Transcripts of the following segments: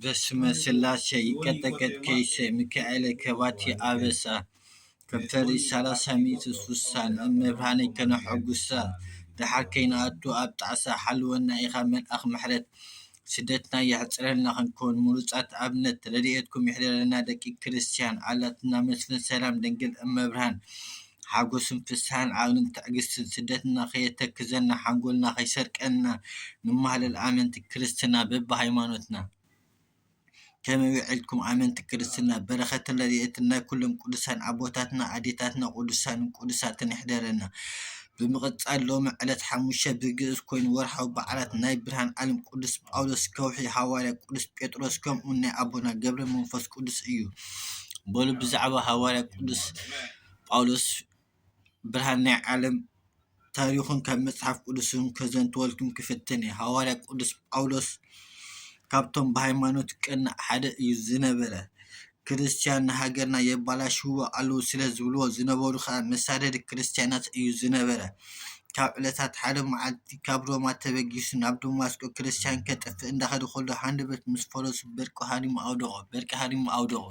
በስመ ስላሴ ይቀጠቀጥ ከይሰ ሚካኤለ ከባቲ ኣበሳ ከም ፈሪ ሰላሳ ሚእቲ ስሳን እመብርሃነይ ከነሐጉሳ ደሓር ከይንኣቱ ኣብ ጣዕሳ ሓልወና ኢኻ መልኣኽ ምሕረት ስደትና የሕፅረልና ክንከውን ምሩፃት ኣብነት ረድኤትኩም ይሕደረና ደቂ ክርስትያን ኣላትና መስፍን ሰላም ድንግል እመብርሃን ሓጎስን ፍስሃን ዓውንን ትዕግስትን ስደትና ከየተክዘና ሓንጎልና ከይሰርቀና ንማህለል ኣመንቲ ክርስትና በብሃይማኖትና ከመይ ውዒልኩም ኣመንቲ ክርስትና በረኸትን ረድኤትን ናይ ኩሎም ቅዱሳን ኣቦታትና ኣዴታትና ቅዱሳንን ቅዱሳትን ይሕደረና ብምቕጻል ሎሚ ዕለት ሓሙሽተ ብግእዝ ኮይኑ ወርሓዊ በዓላት ናይ ብርሃን ዓለም ቅዱስ ጳውሎስ ከውሒ ሃዋርያ ቅዱስ ጴጥሮስ ከምኡ ናይ ኣቦና ገብረ መንፈስ ቅዱስ እዩ በሉ ብዛዕባ ሃዋርያ ቅዱስ ጳውሎስ ብርሃን ናይ ዓለም ታሪኹን ካብ መጽሓፍ ቅዱስን ከዘንትወልኩም ክፍትን እየ። ሃዋርያ ቅዱስ ጳውሎስ ካብቶም ብሃይማኖት ቀናእ ሓደ እዩ ዝነበረ። ክርስትያን ንሃገርና የባላሽዎ ኣለዉ ስለ ዝብልዎ ዝነበሩ ከዓ መሳደዲ ክርስትያናት እዩ ዝነበረ። ካብ ዕለታት ሓደ መዓልቲ ካብ ሮማ ተበጊሱ ናብ ደማስቆ ክርስትያን ከጥፍእ እንዳኸደ ከሎ ሃንደበት ምስ ፈረሱ በርቂ ሃሪሙ ኣውደቖ በርቂ ሃሪሙ ኣውደቖ።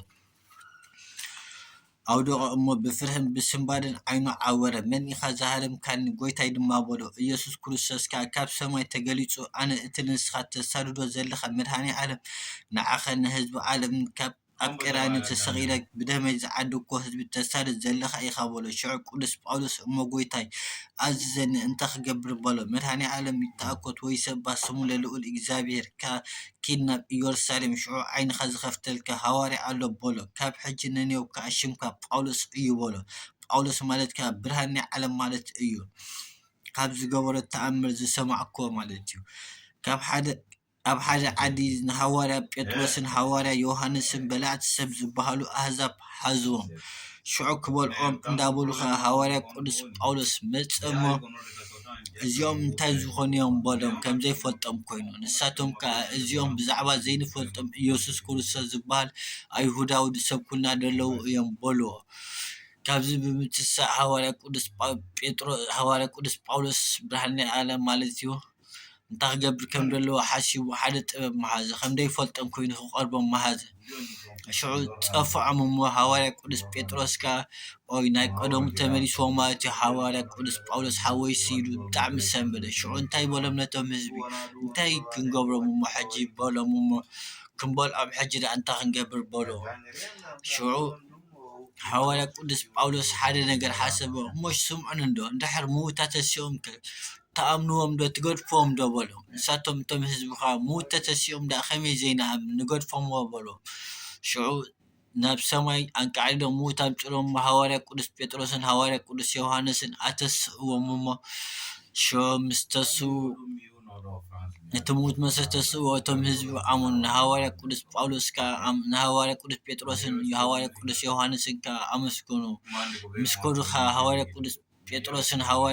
ኣውደቐ እሞ ብፍርህን ብስንባደን ዓይኑ ዓወረ። መን ኢኻ ዝሃረምካኒ? ጐይታይ ድማ በሎ። ኢየሱስ ክርስቶስ ከኣ ካብ ሰማይ ተገሊጹ ኣነ እቲ ንስኻ ተሳድዶ ዘለኻ መድኃኔ ዓለም ንዓኻን ንሕዝቢ ዓለምን ካብ ኣብ ቀራንዮ ተሰቒለ ብደመይ ዝዓደግኩዎ ሕዝቢ ተሳድድ ዘለኻ ኢኻ በሎ። ሽዑ ቅዱስ ጳውሎስ እሞ ጐይታይ ኣዝዘኒ እንታይ ክገብር በሎ። መድኃኔ ዓለም ይትኣኰት ወይሰባህ ስሙ ለልዑል እግዚኣብሔር ኪድ ናብ ኢዮርሳሌም ሽዑ ዓይንኻ ዝኸፍተልካ ሃዋርያ ኣሎ በሎ ካብ ሕጂ ነንዮው ከኣ ሽምካ ጳውሎስ እዩ በሎ ጳውሎስ ማለት ከኣ ብርሃን ናይ ዓለም ማለት እዩ ካብ ዝገበሮ ተኣምር ዝሰማዕክዎ ማለት እዩ ካብ ሓደ ኣብ ሓደ ዓዲ ንሃዋርያ ጴጥሮስን ሃዋርያ ዮሃንስን በላዕቲ ሰብ ዝበሃሉ ኣህዛብ ሓዝዎም ሽዑ ክበልዖም እንዳበሉ ከኣ ሃዋርያ ቅዱስ ጳውሎስ መጸ እሞ እዚኦም እንታይ ዝኾኑ እዮም በሎም፣ ከም ዘይፈልጦም ኰይኑ። ንሳቶም ከኣ እዚኦም ብዛዕባ ዘይንፈልጦም ኢየሱስ ክርስቶስ ዚብሃል ኣይሁዳዊ ዚሰብኩልና ዘለዉ እዮም በልዎ። ካብዚ ብምትሳእ ሃዋርያ ቅዱስ ጳውሎስ ብርሃን ናይ ዓለም ማለትዩ። እንታይ ክገብር ከም ዘለዎ ሓሲቡ ሓደ ጥበብ መሃዘ፣ ከም ደይፈልጦም ኰይኑ ክቐርቦም መሃዘ። ሽዑ ጸፍዖም እሞ ሃዋርያ ቅዱስ ጴጥሮስ ከኣ ኦይ ናይ ቀደሙ ተመሊስዎ ማለትዮ ሃዋርያ ቅዱስ ጳውሎስ ሓወይሲ ኢሉ ብጣዕሚ ሰምበደ። ሽዑ እንታይ በሎም ነቶም ህዝቢ እንታይ ክንገብሮም እሞ ሕጂ በሎም እሞ ክንበልዖም ሕጂ ደኣ እንታይ ክንገብር በሎ። ሽዑ ሃዋርያ ቅዱስ ጳውሎስ ሓደ ነገር ሓሰበ እሞ ስምዑኒ እንዶ እንድሕር ምዉታት ተሲኦምከ ትኣምንዎም ዶ ትገድፍዎም ዶ በሎ ንሳቶም እቶም ህዝቢ ከኣ ምውተ ተሲኦም ደኣ ከመይ ዘይንኣምን ንገድፎምዎ በሎ ሽዑ ናብ ሰማይ ኣንቃዕሊሎም ምውት ኣምጺሎም እሞ ሃዋርያ ቅዱስ ጴጥሮስን ሃዋርያ ቅዱስ ዮሓንስን ኣተስእዎም እሞ ሽዑ ምስ ተስኡ እቲ ምውት መሰ ተስእዎ እቶም ህዝቢ ኣመኑ ንሃዋርያ ቅዱስ ጳውሎስ ከኣ ንሃዋርያ ቅዱስ ጴጥሮስን ሃዋርያ ቅዱስ ዮሓንስን ከኣ ኣመስገኑ ምስ ከዱ ከኣ ሃዋርያ ቅዱስ ጴጥሮስን ሃዋርያ